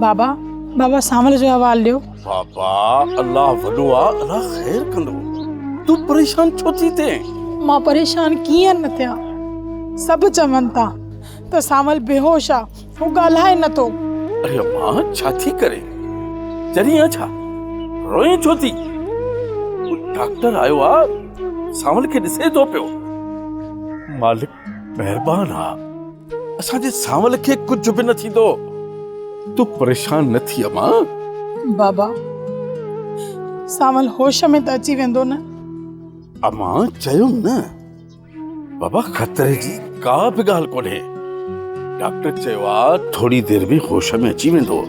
بابا بابا سانول جو حوال ڏيو بابا الله وڏو آ الله خير ڪندو تو پريشان ڇو ٿي ٿئي مان پريشان ڪيئن نه ٿيان سڀ چون ٿا ته سانول بيهوش آ هو ڳالهائي نه ٿو. اڙي اما ڇا ٿي ڪرين چرين آ ڇا روئين ڇو ٿي هو ڊاڪٽر آيو آ سانول کي ڏسي ٿو پيو مالڪ مهربان آ اسان جي سانول کي ڪجهه به نه ٿيندو تون پريشان نه ٿي اما بابا سانول هوش ۾ ته اچي ويندو نه اما چيم نه بابا خطري جي ڪا به ڳالهه ڪونهي ڊاڪٽر چيو آ ٿوري دير ۾ هوش ۾ اچي ويندو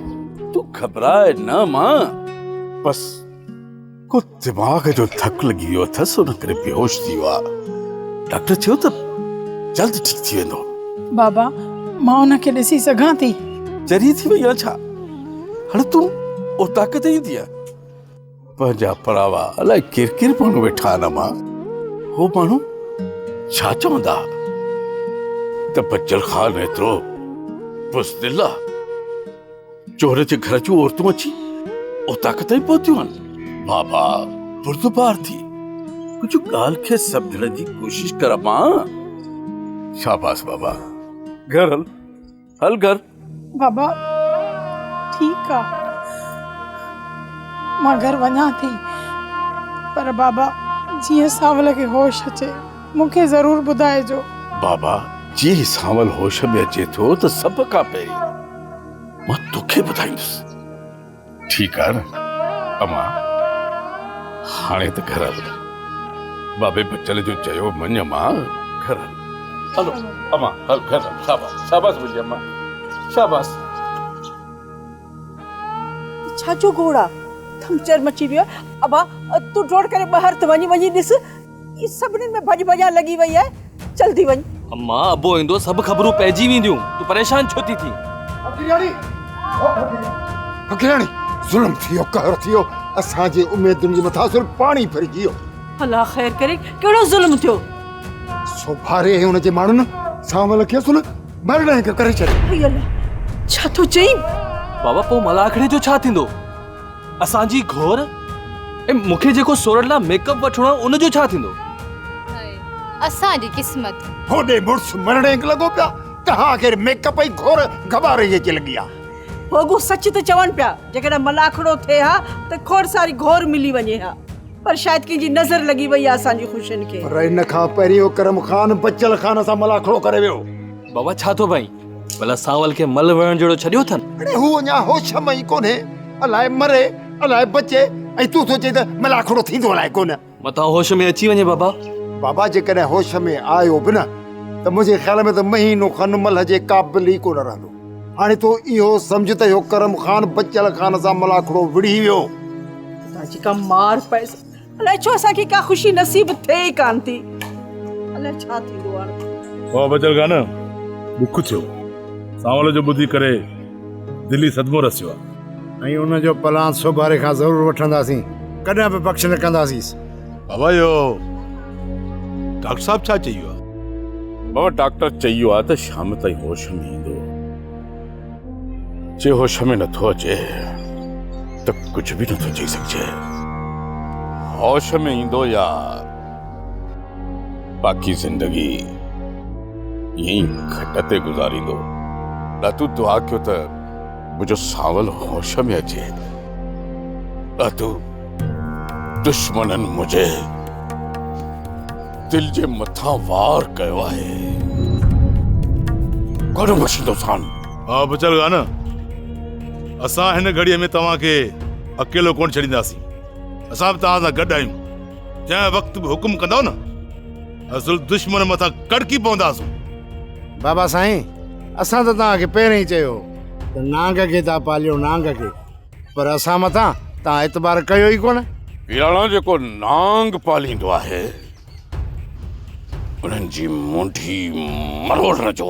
تون گهٻراء نه مان بس ڪو دماغ جو ڌڪ لڳي ويو اٿس ان ڪري بيهوش ٿي ويو آ ڊاڪٽر چيو ته جلد ٺيڪ ٿي ويندو بابا مان ان کي ڏسي سگهان ٿي چري ٿي وئي آ ڇا هاڻي تون اوطاق تي ايندينء پنهنجا پراوا الائي ڪير ڪير ماڻهو ويٺا آهن امان هو ماڻهو ڇا چوندا ته بچڙ خان ايترو بزدل آ چور جي گهر جون عورتون اچي اوطاق تائين پهتيون آهن بابا بردبار ٿي ڪجهه ڳالهه کي سمجهڻ جي ڪوشش ڪر امان شاباس بابا گهر هل حل ڪر. بابا ٺيڪ آ مان گهر وڃان ٿي پر بابا جيئن سانول کي هوش اچي مون کي ضرور ٻڌائجو. بابا جيئن سانول هوش ۾ اچي ٿو ته سڀ کان پهرين مان توکي ٻڌائيندس. ٺيڪ آهي نه امان هاڻي ته گهر هل بابي بچل جو چيو مڃ امان گهر هل هلو امان هل گهر هل شاباس شاباس منهنجي امان شاباس ڇا جو گوڙا ٿم چرم اچي ويو ابا تون ڊوڙ ڪري ٻاهر ته وڃي وڃي ڏس هي سڀني ۾ ڀڄ ڀڄان لڳي وئي آهي چل ٿي وڃ. اما ابو ايندو سڀ خبرون پئجي وينديون تون پريشان ڇو ٿي ٿين. ڦڪيراڻي او ڦڪيراڻي ظلم ٿي ويو قهر ٿي ويو اسان جي اميدن جي مٿان سر پاڻي ڦرجي ويو. الله خير ڪري ڪهڙو ظلم ٿيو. سوڀاري ۽ ان جي ماڻهن سانول کي اصل مرڻ هنگ ڪري ڇڏيو. اي الله ڇا ٿو چئين. بابا پوء ملاکڙي جو ڇا ٿيندو. اسان جي گهور ۽ مون کي جيڪو سورٺ لاء ميڪ اپ وٺڻو آهي ان جو ڇا ٿيندو؟ اسان جي قسمت. هوڏي مڙس مرڙينگ لڳو پيا ته آخر ميڪ اپ ۽ گهور گباري اچي لڳي آ. هو اڳو سچ ٿي چون پيا جيڪڏهن ملاکڙو ٿئي ها ته کوڙ ساري گهور ملي وڃي ها پر شايد ڪنهن جي نظر لڳي وئي آ اسان جي خوشين کي. پر ان کان پهرين اڪرم خان بچل خان سان ملاکڙو ڪري ويو. بابا ڇا ٿو ڀائين ڀلا سانول کي مل وڙهڻ جهڙو ڇڏيو اٿن؟ اڙي هو اڃا هوش ۾ ئي ڪونهي، الاء مري الاء بچي ۽ تون ٿو چئين ته ملاکڙو ٿيندو الاء ڪونه. متان هوش ۾ اچي وڃي بابا. بابا جيڪڏهن هوش ۾ آيو به نه ته منهنجي خيال ۾ ته مهينو کن ملهه جي قابل ئي ڪونه رهندو. هاڻي تون اهو سمجهه ته اهو ڪرم خان بچل خان سان ملاکڙو وڙهي ويو. اتان جيڪا مار پئس الائي ڇو اسان کي ڪا خوشي نصيب ٿئي ئي ڪانه ٿي الائي ڇا ٿيندو هاڻي. واهه بچل گانه ڏک ٿيو سانول جو ٻڌي ڪري دلي صدمو رسيو آ. ۽ ان جو پلان سوڀاري کان ضرور وٺنداسين ڪڏهن به پڪش نه ڪنداسيس. بابا اهو ڊاڪٽر صاحب ڇا چيو آ؟ بابا ڊاڪٽر چيو آ ته شام تائين هوش ۾ ايندو. جي هوش ۾ نٿو اچي ته ڪجهه به نٿو چئي سگهجي. هوش ۾ ايندو يار، باقي زندگي ائين ئي کٽ تي گذاريندو. ڏاتو دعا ڪيو ته منهنجو سانول هوش ۾ اچي. ڏاتو دشمنن منهنجي. دل جي مٿان وار ڪيو آهي گهڻو مشيندو سان ها بچل گان اسان هن گهڙي ۾ توهان کي اڪيلو ڪون ڇڏينداسين اسان به توهان سان گڏ آهيون جنهن وقت به حڪم ڪندو نه اصل دشمن مٿان ڪڙڪي پونداسون بابا سائين اسان ته توهان کي پهرين ئي چيو ته نانگ کي ٿا پاليو نانگ کي پر اسان مٿان توهان اعتبار ڪيو ئي ڪونه. پيراڻا جيڪو نانگ پاليندو آهي، انهن جي منڍي مروڙڻ جو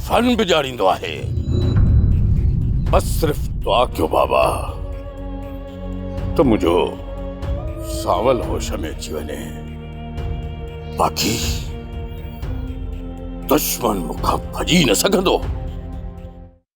فن به ڄاڻيندو آهي. بس صرف دعا ڪيو بابا ته منهنجو سانول هوش ۾ اچي وڃي. باقي دشمن مون کان ڀڄي نه سگهندو.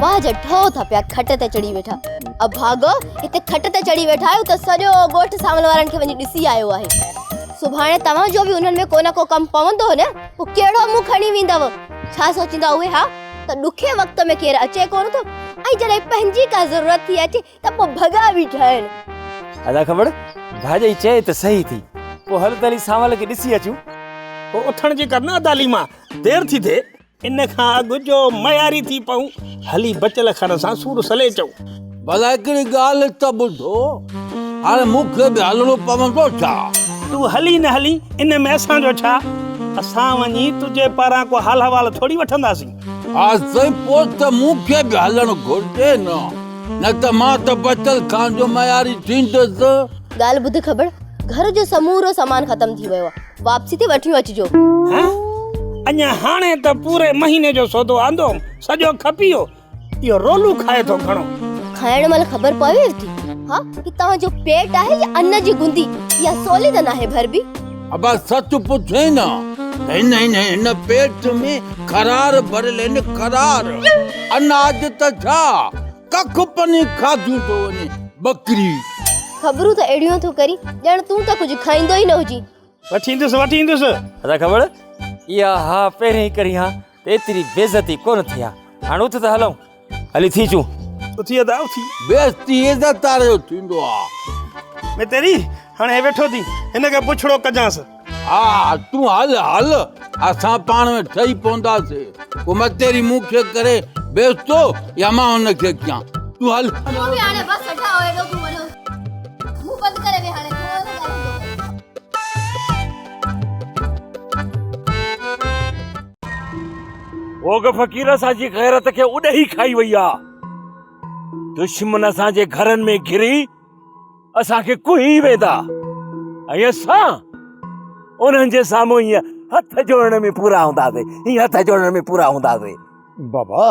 واهه جا ٺهو ٿا پيا کٽ تي چڙهي ويٺا اڀاڳو هتي کٽ تي چڙهي ويٺا آهيو ته سڄو ڳوٺ سانول وارن کي وڃي ڏسي آيو آهي سڀاڻي توهان جو به انهن ۾ ڪو نه ڪو ڪم پوندو نه پوء ڪهڙو منهن کڻي ويندؤ ڇا سوچيندا اهي ها ته ڏکي وقت ۾ ڪير اچي ڪونه ٿو ۽ جڏهن پنهنجي ڪا ضرورت ٿي اچي ته پوء ڀڳا بيٺا آهن ادا کٻڙ ڀاڄئي چئي ته صحيح ٿي پوء هل ته هلي سانول کي ڏسي اچون پوء اٿڻ جي ڪر نه ادا ليما دير ٿي ٿئي. ان کان اڳ جو معياري ٿي پئون. هلي بچل کن سان سور سليٽئون. ڀلا هڪڙي ڳالهه ته ٻڌو. هاڻي مون کي به هلڻو پوندو ڇا؟ تون هلين نه هلين ان ۾ اسان جو ڇا؟ اسان وڃي تنهنجي پاران ڪو حال حوال ٿوري وٺنداسين. ها سائين پوء ته مون کي به هلڻ گهرجي نه. نه ته مان ته بچل کان جو معياري ٿيندس. ڳالهه ٻڌ کٻڙ. گهر جو سمورو سامان ختم ٿي ويو آهي. واپسي تي وٺيون اچجو. ها اڃا هاڻي ته پوري مهيني جو سودو آندو هوم سڄو کپيو اهو رولو کائي ٿو گهڻو. کائڻ مهل خبر پويو ٿي ها هي توهان جو پيٽ آهي يا ان جي گندي يا سولي ته ناهي ڀربي. ابا سچ پڇين ها ته هن هن هن پيٽ ۾ خرار ڀريل آهن خرار اناج ته ڇا ڪک پني کاڌي ٿو وڃي ٻڪري. خبرون ته اهڙيون ٿو ڪرين ڄڻ تون ته ڪجهه کائيندو ئي نه هجين. وٺي ايندس وٺي ايندس. ادا کبڙ اها ها پهرين ئي ڪرين ها ته ايتري بيعزتي ڪونه ٿئي ها هاڻ اٿ ته هلون هلي ٿي اچون. اٿي ادا اٿي. بيعزتي عزت وارو ٿيندو آ. متيري هاڻ هي ويٺو ٿي هن کي پڇڙو ڪجانس. ها تون هل هل اسان پاڻ ۾ ٺهي پونداسين ڪو متيري مون کي ڪري بيس ٿو يا مان هن کي ڪيان تون هل. تون به هاڻي بس ٺهه ايڏو گهمڻ جو منهن بند ڪري ويهه هاڻي ٿورو نه ڳالهه ڪندو ڪر. اوگهه فقير اسان جي غيرت کي اڏهي کائي وئي آ دشمن اسان جي گهرن ۾ گهري اسان کي ڪهي ويندا ۽ اسان انهن جي سامهون هيئن هٿ جوڙڻ ۾ پورا هونداسي هيئن هٿ جوڙڻ ۾ پورا هونداسي بابا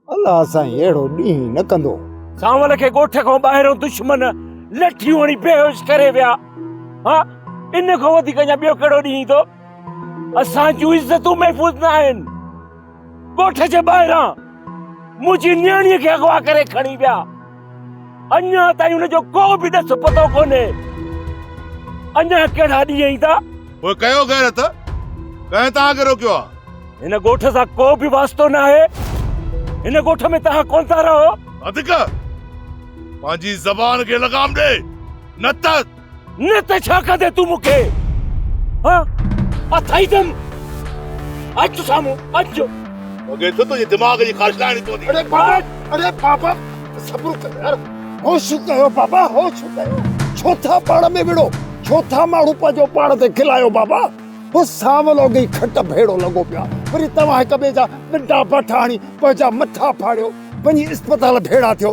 الله سان اهڙو ڏينهن نه ڪندو سانول کي ڳوٺ کان ٻاهرو دشمن لٺيون هڻي بيهوش ڪري ويا ها ان کان وڌيڪ اڃا ٻيو ڪهڙو ڏينهن ايندو اسان جون عزتون محفوظ نه آهن ڳوٺ جي ٻاهران منهنجي نياڻي کي اغوا ڪري کڻي ويا اڃا تائين ان جو ڪو به ڏس پتو ڪونهي اڃا ڪهڙا ڏينهن ايندا پوء ڪيو غيرت ڪنهن توهان کي روڪيو آهي هن ڳوٺ سان ڪو به واسطو نه آهي هن ڳوٺ ۾ توهان ڪون ٿا رهو ادڪ پنهنجي زبان کي لگام ڏي نه ته نه ته ڇا ڪندي تون مون کي ها اٿائي دم اچ تو سامهون اچ جو لڳي ٿو تنهنجي دماغ جي خارش لاهڻي پوندي اڙي بابا اڙي بابا صبر ڪر يار هوش ڪيو بابا هوش ڪيو ڇو ٿا پاڻ ۾ وڙو ڇو ٿا ماڻهو پنهنجو پاڻ تي کلايو بابا هو سانولو گئي کٽ ڀيڙو لڳو پيا وري توهان هڪ ٻئي جا ڏنڊا بٺا هڻي پنهنجا مٿا ڦاڙيو وڃي اسپتال ڀيڙا ٿيو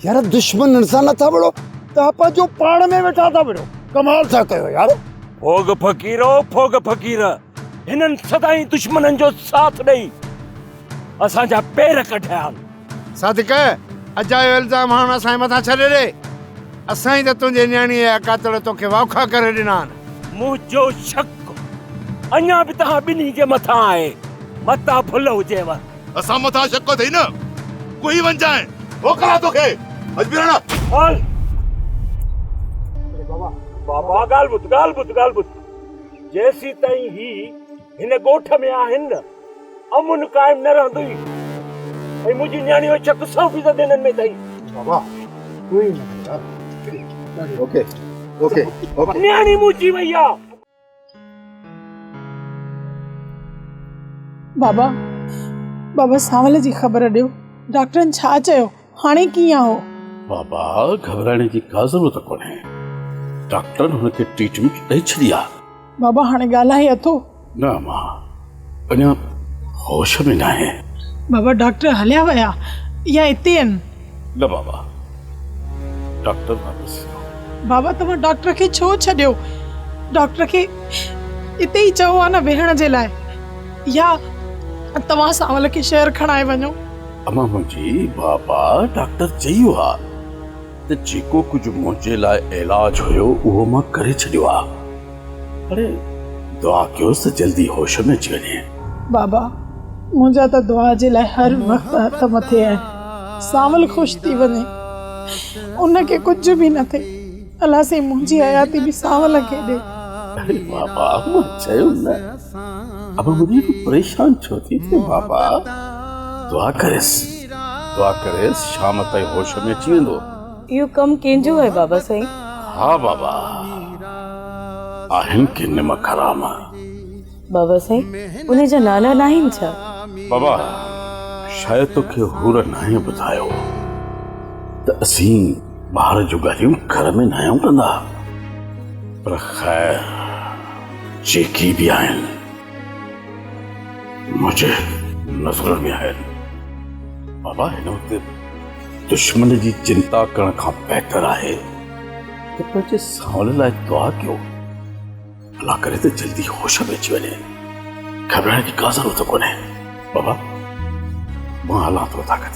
يار دشمنن سان نٿا وڙو تها پنهنجو پاڻ ۾ ويٺا ٿا وڙو ڪمال ٿا ڪيو يار ڦوڳ فقيرو ڦوڳ فقير هنن سدائين دشمنن جو ساٿ ڏئي اسان جا پير ڪڍيا آهن صادق اجايو الزام هاڻ اسان جي مٿان ڇڏي ڏي اسان ئي ته تنهنجي نياڻي يا قاتل توکي واکا ڪري ڏنا آهن منهنجو شڪ اڃا به توهان ٻنهي جي مٿان آهي متان ڀل هجيو اسان مٿان شڪ اٿئي نه ڪوهي ونجائين موڪلان توکي اجميراڻا هل بابا بابا ڳالهه ٻڌ ڳالهه ٻڌ ڳالهه ٻڌ جيسين تائين هي هن ڳوٺ ۾ آهن نه امن قائم نه رهندو ئي ۽ منهنجي نياڻي جو شڪ سو فيصد هنن ۾ اٿئي بابا تون ئي نه اوڪي اوڪي اوڪي نياڻي منهنجي وئي آ بابا بابا سانول جي خبر ڏيو ڊاڪٽرن ڇا چيو هاڻي ڪيئن آهو بابا گهٻرائڻ جي ڪا ضرورت ڪونهي ڊاڪٽرن هن کي ٽريٽمينٽ ڏئي ڇڏي آهي بابا هاڻي ڳالهائي اٿو نه امان اڃا هوش ۾ ناهي. بابا ڊاڪٽر هليا ويا يا اتي آهن؟ نه بابا ڊاڪٽر نه ڏسيو. بابا توهان ڊاڪٽر کي ڇو ڇڏيو؟ ڊاڪٽر کي اتي ئي چئو ها نه ويهڻ جي لاء يا توهان سانول کي شهر کڻائي وڃو. امان منهنجي بابا ڊاڪٽر چئي ويو ها. ته جيڪو ڪجهه منهنجي لاء علاج هيو اهو مان ڪري ڇڏيو آ پر دعا ڪيوس ته جلدي هوش ۾ اچي وڃي. بابا منهنجا ته دعا جي لاء هر وقت هٿ مٿي آهن سانول خوش ٿي وڃي ان کي ڪجهه به نه ٿئي الله سائين منهنجي حياتي به سانول کي ڏي. اري بابا مان چيو نه ابا مون ڏي پريشان ڇو ٿي ٿئين بابا دعا ڪريس. دعا ڪريس شام تائين هوش ۾ اچي ويندو. اهو ڪم ڪنهن جو آهي بابا سائين؟ ها بابا آهن ڪي نمڪ حرام. بابا سائين ان جا نالا ناهن ڇا؟ بابا شايد توکي حور ناهين ٻڌايو ته اسين ٻاهر جون ڳالهيون گهر ۾ ناهيون ڪندا پر خير جيڪي به آهن منهنجي نظر ۾ آيل بابا هن وقت دشمن جي چنتا ڪرڻ کان بهتر آهي ته پنهنجي سانول لاء دعا ڪيو الله ڪري ته جلدي هوش ۾ اچي وڃي گهٻرائڻ جي ڪا ضرورت ڪونهي بابا مان هلان ٿو طاقت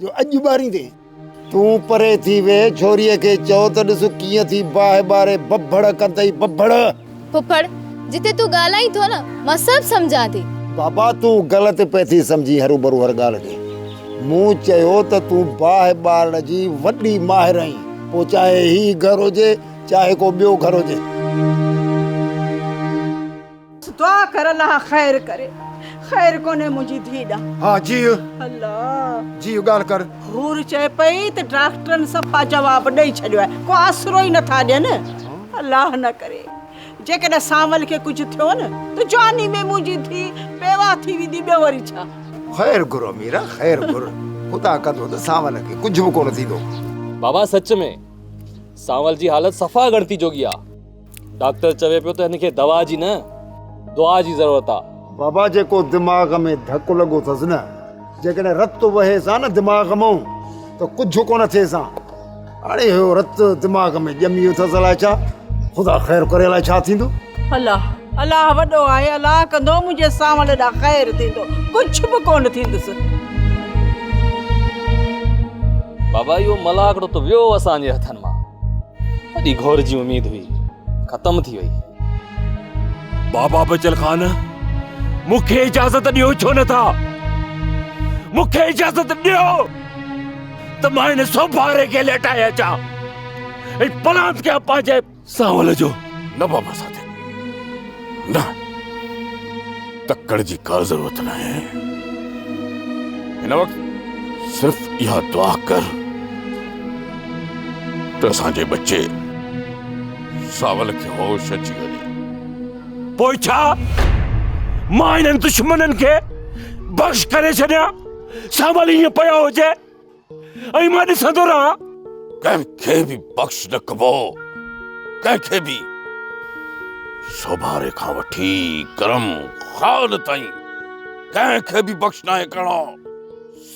جو اڄ ٻاريندين. تون پري ٿي ويهه ڇوريء کي چئو ته ڏس ڪيئن ٿي باهه ٻاري ببڙ ڪندئي ببڙ. ڦڦڙ، جتي تون ڳالهائين ٿو نه مان سڀ سمجهان ٿي. بابا تون غلط پئي ٿي سمجهين هروڀرو هر ڳالهه ڏي مون چيو ته تون باهه ٻارڻ جي وڏي ماهر آهين پوء چاهي هي گهر هجي چاهي ڪو ٻيو گهر هجي. دعا ڪر الله خير ڪري خير ڪونهي منهنجي ڌي ڏانهن ها جيء الله جيء ڳالهه ڪر حور چئي پئي ته ڊاڪٽرن صفا جواب ڏئي ڇڏيو آهي ڪو آسرو ئي نٿا ڏين الله نه ڪري جيڪڏهن سانول کي ڪجهه ٿيو نه ته جواني ۾ منهنجي ڌي بيواهه ٿي ويندي ٻيو وري ڇا خير گهر اميره خير گهر خدا ڪندو ته سانول کي ڪجهه به ڪونه ٿيندو بابا سچ ۾ سانول جي حالت صفا ڳڻتي جوڳي آهي ڊاڪٽر چوي پيو ته هن کي دوا جي نه دعا جي ضرورت آ. بابا جيڪو دماغ ۾ ڌڪ لڳو اٿس نه جيڪڏهن رت وهيس ها نه دماغ مئون ته ڪجهه ڪونه ٿيس ها هاڻي اهو رت دماغ ۾ ڄمي ويو اٿس الاء ڇا خدا خير ڪري الاء ڇا ٿيندو. الله الله وڏو آهي الاء ڪندو منهنجي سانول ڏا خير ٿيندو ڪجهه به ڪونه ٿيندس. بابا اهو ملاح هڪڙو ته ويو اسان جي هٿن مان. وڏي گهور جي اميد هئي ختم ٿي وئي بابا بچل خان مون کي اجازت ڏيو ڇو نه ٿا مون کي اجازت ڏيو ته مان هن سوڀاري کي ليٽائي اچان ۽ پلانت کي پنهنجي سانول جو نه بابا ساٿي نه تڪڙ جي ڪا ضرورت ناهي هن وقت صرف اها دعا ڪر ته اسان جي ٻچي ساول کي هوش اچي وڃي پوء ڇا مان انهن دشمنن کي بخش ڪري ڇڏيان ساول ائين پيو هجي ۽ مان ڏسندو رهان. ڪنهن کي به بخش نه ڪبو، ڪنهن کي به. سوڀاري کان وٺي گرم خان تائين ڪنهن کي به بخش ناهي ڪرڻو.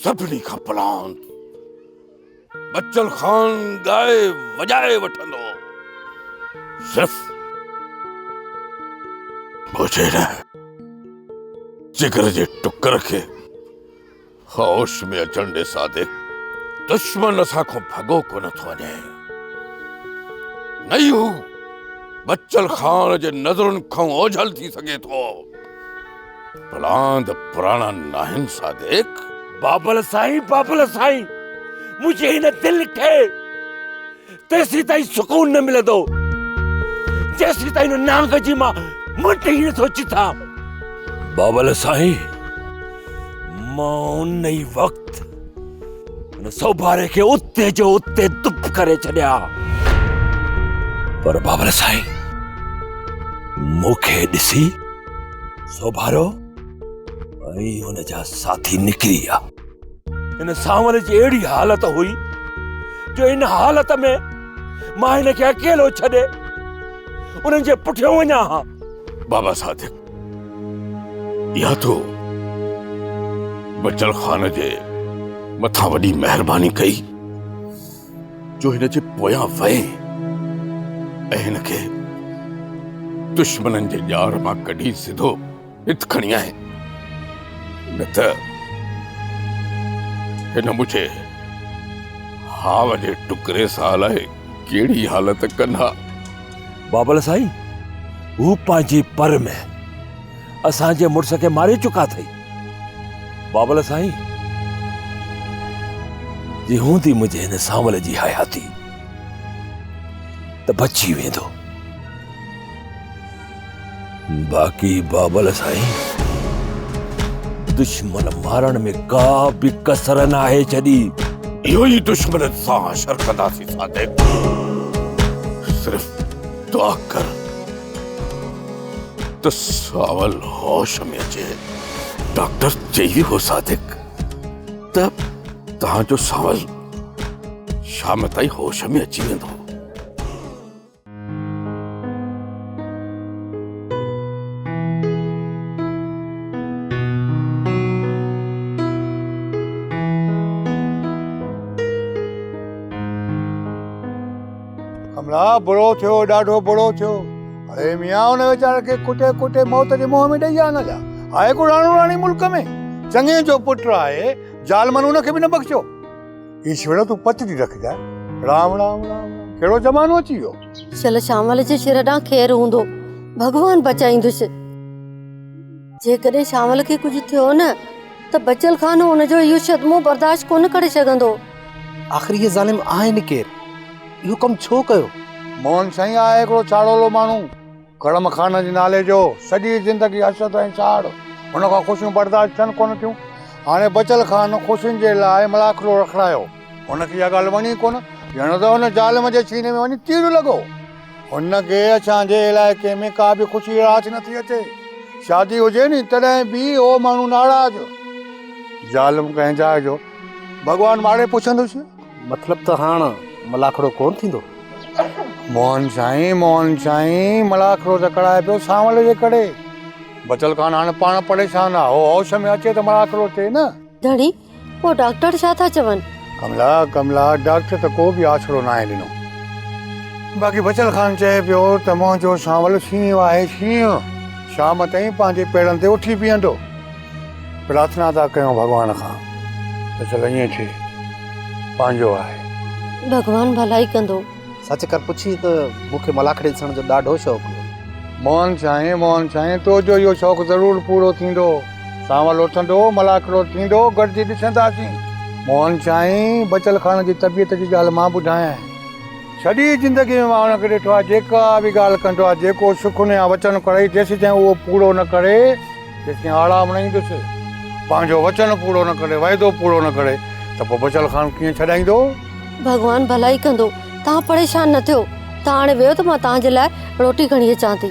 سڀني کان پلاند بچل خان ڳائي وڄائي وٺندو. صرف مجھي نه، جگر جي ٽڪر کي. هوش ۾ اچڻ ڏي صادق، دشمن اسان کان ڀڳو ڪونه ٿو وڃي. نه ئي هو بچل خان جي نظرن کان اوجهل ٿي سگهي ٿو. پلاند پراڻا ناهن صادق. بابل سائين، بابل سائين، منهنجي هن دل کي تيسين تائين سڪون نه ملندو جيسين تائين هن نانگ جي مان مٽ ئي نٿو چٿا بابل سائين مان ان ئي وقت ان سوڀاري کي اتي جو اتي دپ ڪري ڇڏيا پر بابل سائين مون کي ڏسي سوڀارو ۽ ان جا ساٿي نڪري ويا هن سانول جي اهڙي حالت هئي جو ان حالت ۾ مان هن کي اڪيلو ڇڏي انهن جي پٺيان وڃان ها بابا صادق يا تو بچل خان جي مٿان وڏي مهرباني ڪئي جو هن جي پويان وئي ۽ هن کي دشمنن جي ڄار مان ڪڍي سڌو ڀت کڻي آهي نه ته هن منهنجي هاء جي ٽڪري سان الائي ڪهڙي حالت ڪن ها. بابل سائين هو پنهنجي پر ۾ اسان جي مڙس کي ماري چڪا اٿئي. بابل سائين جي هوندي منهنجي هن سانول جي حياتي ته بچي ويندو. باقي بابل سائين دشمن مارڻ ۾ ڪا به ڪسر ناهي ڇڏي اهو ئي دشمن سان حشر ڪنداسين صادق صرف دعا ڪر ته ساول هوش ۾ اچي ڊاڪٽر چئي هو صادق ته تنهنجو ساول شام تائين هوش ۾ اچي ويندو ڪملا برو ٿيو ڏاڍو برو ٿيو اڙي ميان ان ويچار کي ڪٽي ڪٽي موت جي منهن ۾ ڏيئي آنا جا آهي ڪو راڻو راڻي ملڪ ۾ چڱي جو پٽ آهي ظالمن ان کي به نه بخشيو هي ڇڙا تون پچ ٿي رکجاء رام رام رام ڪهڙو زمانو اچي ويو شل شامل جي شر ڏانهن خير هوندو ڀڳوان بچائيندس جيڪڏهن شامل کي ڪجهه ٿيو نه ته بچل خان ان جو اهو صدمو برداشت ڪونه ڪري سگهندو آخر هي ظالم آهن ڪير اهو ڪم ڇو ڪيو موهن سائين آهي هڪڙو ڇاڙولو ماڻهو ڪڙم خان جي نالي جو سڄي زندگي حسد ۽ ساڙ هن کان خوشيون برداشت ٿين ڪونه ٿيون. هاڻي بچل خان خوشين جي لاء ملاکڙو رکرايو. هن کي اها ڳالهه وڻي ڪونه. ڄڻ ته هن ظالم جي سيني ۾ وڃي تير لڳو. هن کي اسان جي علائقي ۾ ڪا به خوشي راس نٿي اچي. شادي هجي ني تڏهن به اهو ماڻهو ناراض. ظالم ڪنهن جاء جو ڀڳوان ماڙي پڇندس. مطلب ته هاڻ ملاکڙو ڪونه ٿيندو؟ موهن سائين موهن سائين ملاکڙو ته ڪڙهائي پيو سانول جي ڪڙي. بچل خان هاڻ پاڻ پريشان آ. هو هوش ۾ اچي ته ملاکڙو چئي نه. ڌڻي پوء ڊاڪٽر ڇا ٿا چون؟ ڪملا ڪملا ڊاڪٽر ته ڪو به آسرو ناهي ڏنو. باقي بچل خان چئي پيو ته منهنجو سانول شينهن آهي شينهن. شام تائين پنهنجي پيرن تي اٿي بيهندو. پرارٿنا ٿا ڪيون ڀڳوان کان ته چلو ائين ٿئي پنهنجو آهي. ڀڳوان ڀلائي ڪندو. سچ ڪر پڇي ته مون کي ملاکڙي ڏسڻ جو ڏاڍو شوق هو. موهن سائين موهن سائين تو جو اهو شوق ضرور پورو ٿيندو. سانول اٿندو ملاکڙو ٿيندو گڏجي ڏسنداسين. موهن سائين بچل خان جي طبيعت جي ڳالهه مان ٻڌايانء. سڄي زندگي ۾ مان ان کي ڏٺو آهي جيڪا به ڳالهه ڪندو آهي جيڪو سخن يا وچن ڪرئي جيسين تائين اهو پورو نه ڪري جيڪي آڙا مڻائيندس، پنهنجو وچن پورو نه ڪري، وعدو پورو نه ڪري ته پوء بچل خان ڪيئن ڇڏائيندو؟ ڀڳوان ڀلائي ڪندو، توهان پريشان نه ٿيو. توهان هاڻي ويهو ته مان توهان جي لاء روٽي کڻي اچان ٿي.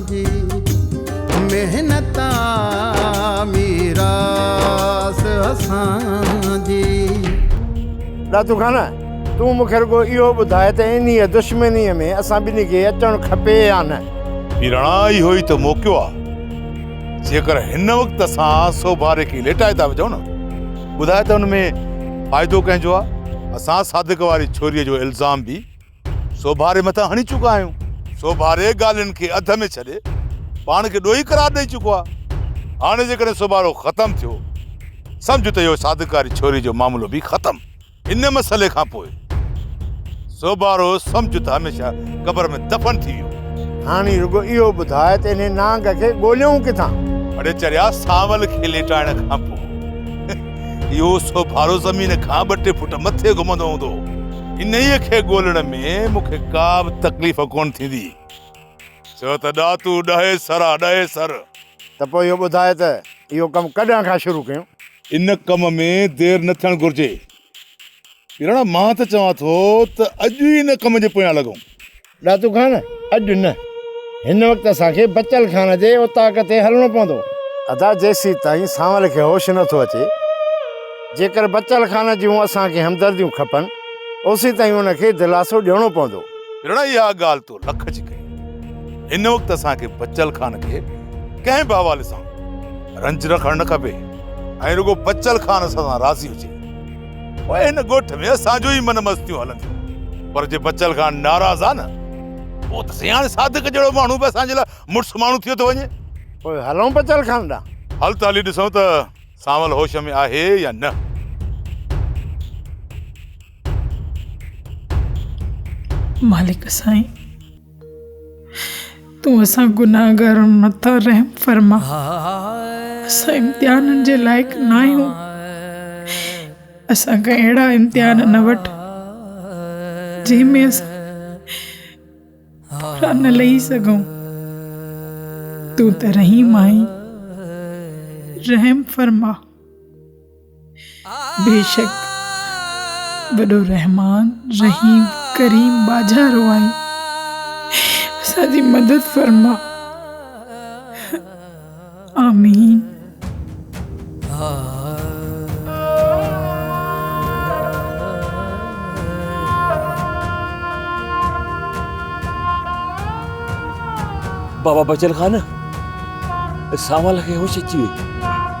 جي محنت آ ميراث اسان جي. دادو خان! تون مون کي رڳو اهو ٻڌاء ته انهيء دشمنيء ۾ اسان ٻنهي کي اچڻ کپي يا نه؟ ميراڻا، اهو ئي ته موقعو آ. جيڪر هن وقت اسان سوڀاري کي ليٽائي ٿا وجهون نه، ٻڌاء ته ان ۾ فائدو ڪنهن جو آ؟ اسان صادق واري ڇوريء جو الزام به سوڀاري مٿان هڻي چڪا آهيون. سوڀاري ڳالهين کي اڌ ۾ ڇڏي پاڻ کي ڏوهي قرار ڏئي چڪو آهي. هاڻي جيڪڏهن سوڀارو ختم ٿيو سمجهه ته اهو صادق واري ڇوري جو معاملو به ختم. ان مسئلي کان پوء سوڀارو سمجهه ته هميشه قبر ۾ دفن ٿي ويو. هاڻي رڳو اهو ٻڌاء ته انهي نانگ کي ڳوليون ڪٿان؟ اڙي چريا سانول کي ليٽائڻ کان پوء اهو سوڀارو زمين کان ٻه ٽي فوٽ مٿي گهمندو هوندو. انهيء کي ڳولڻ ۾ مون کي ڪا به تڪليف ڪونه ٿيندي. ڇو ته ڏاتو ڏهي سر آ، ڏهي سر. ته پوء اهو ٻڌاء ته اهو ڪم ڪڏهن کان شروع ڪيون؟ ان ڪم ۾ دير نه ٿيڻ گهرجي. پيراڻا مان ته چوان ٿو ته اڄ ئي ان ڪم جي پويان لڳون. ڏاتو خان، اڄ نه. هن وقت اسان کي بچل خان جي اوطاق تي هلڻو پوندو. ادا جيسيتائين سانول کي هوش نٿو اچي، جيڪر بچل خان جون اسان کي همدرديون کپن، اوسيتائين ان کي دلاسو ڏيڻو پوندو. رڻ اها ڳالهه تو لک جي ڪئي. هن وقت اسان کي بچل خان کي ڪنهن به حوالي سان رنج رکڻ نه کپي ۽ رڳو بچل خان اسان سان راضي هجي. پوء هن ڳوٺ ۾ اسان جون ئي من مستيون هلنديون. پر جي بچل خان ناراض آ نه، پوء ته سياڻي صادق جهڙو ماڻهو به اسان جي لاء مڙس ماڻهو ٿيو ٿو وڃي. پوء هلون بچل خان ڏانهن. هل ته هلي ڏسون ته سانول هوش ۾ آهي يا نه. مالڪ سائين! تون اسان گناهگارن مٿان رحم فرما، اسان امتحانن جي لائق ناهيون، اسان کان اهڙا امتحان نه وٺ جنهن ۾ اسان پورا نه لهي سگهون، تون ته رحيم آهين، رحم فرما. بيشڪ وڏو رحمان رحيم ڪريم ٻاجهارو آهين اسان جي مدد فرما آمين بابا بچل خان ساول کي هوش اچي ويو